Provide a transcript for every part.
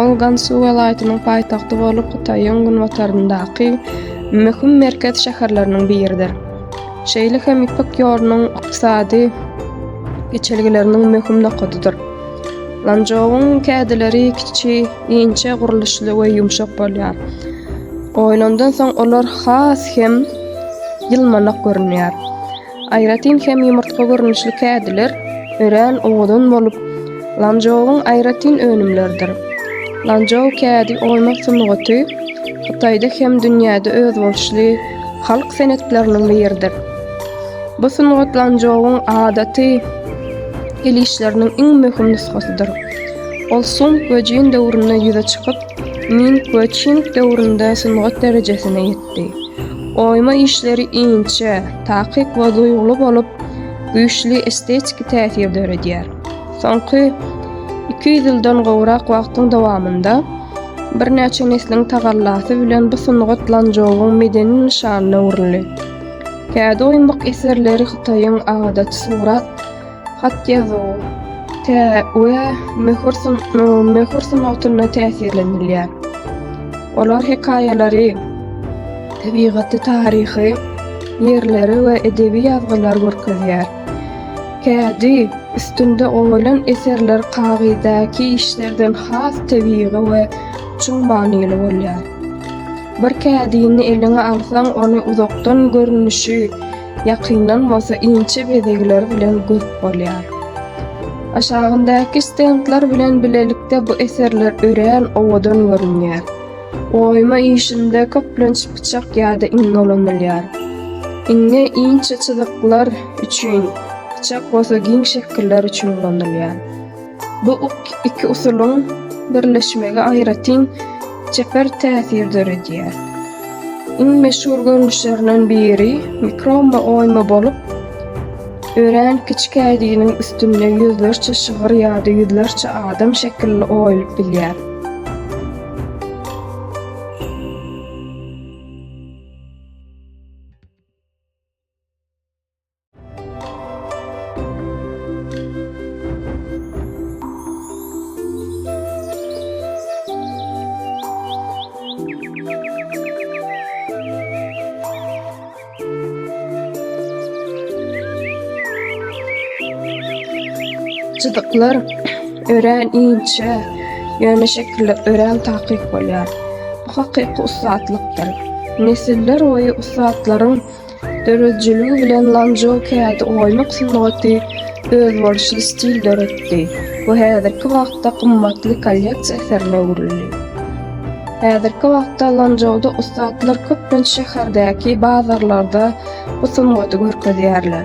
Ol Gansu welaýatynyň paýtagty bolup, Hytaýyň günbataryndaky möhüm merkez şäherleriniň biridir. Şeýle hem Ýüpek ýolunyň ykdysady geçelgeleriniň möhüm nokadydyr. Lançžouň kädileri kiçi, inçe gurluşly we ýumşak bolýar. Oýlandan soň olar has hem ýylmanak görünýär. Aýratyn hem ýumurtga görnüşli kädiler örän owadan bolup, Lanzhouwyň aýratyn önümleridir. Lanzhou kädi oýmak sungaty Hytaýda hem dünýäde özboluşly halk senetleriniň biridir. Bu sungat Lanzhouwyň adaty el işleriniň iň möhüm nusgasydyr. Ol Sung we Jin döwründe ýüze çykyp, Ming we Çing döwründe sungat derejesine ýetdi. etdi. Oýma işleri inçe, takyk we duýguly bolup, güýçli estetiki täsir döredýär. Soňky iki ýüz ýyldan gowrak wagtyň dowamynda birnäçe nesliň tagallasy bilen bu sungat Lançžouwyň medeni nyşanyna öwrüldi. Kädi oýmak eserleri Hytaýyň adaty surat Hat ýazuw, tä we möhür sun möhür sungatynda täsirlenilýär. Olar hekaýalary, tebigaty, taryhy ýerleri we edebi ýazgylary görkezýär. Kädi üstünde goýlan eserler kagyzdaky işlerden has tebigy we çuň manyly bolýar. Bir kädini eliňe alsaň, ony uzakdan görnüşi, Ýakyndan bolsa inçe bezegler bilen görüp bolýar. Aşagyndaky stendler bilen bilelikde bu eserler örän owadan görünýär. Oýma işinde köplenç pyçak ýa-da iň dolanylýar. Iňňe inçe çyzyklar üçin, pyçak bolsa giň şekiller üçin ulanylýar. Bu iki usulyň birleşmegi aýratyn çeper täsir döredýär. Iň meşhur görnüşlerinden biri mikromma oýma bolup, örän kiçi kädiniň üstünde ýüzlerçe şygyr ýa-da ýüzlerçe adam şekilli oýulyp bilýär. Çyzyklar örän inçe, ýöne şekiller örän takyk bolýar. Bu hakyky ussatlyk dyr. Nesiller boýy ussatlaryň. Döredijiligi bilen Lanzhou kädi oýmak sungaty özboluşly stil döretdi we häzirki wagtda gymmatly kolleksiýa eserine öwrüldi. Häzirki wagtda Lanzhouda ussatlar köplenç şäherdäki bazarlarda bu sungaty görkezýärler.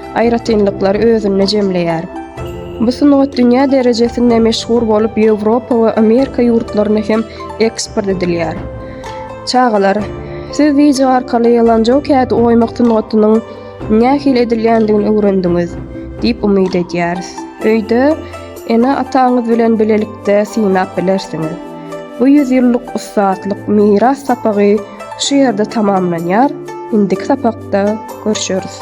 aýratynlyklary özünde jemleýär. Bu sungat dünýä derejesinde meşhur bolup, Ýewropa we Amerika ýurtlaryna hem eksport edilýär. Çagalar, siz wideo arkaly lanjao kädi oýmak sungatynyň nähili edilýändigini öwrendiňiz diýip umyt edýäris. Öýde ene-ataňyz bilen bilelikde synap bilersiňiz. Bu ýüz ýyllyk ussatlyk miras sapagy şu ýerde tamamlanýar, indiki sapakda görüşeris.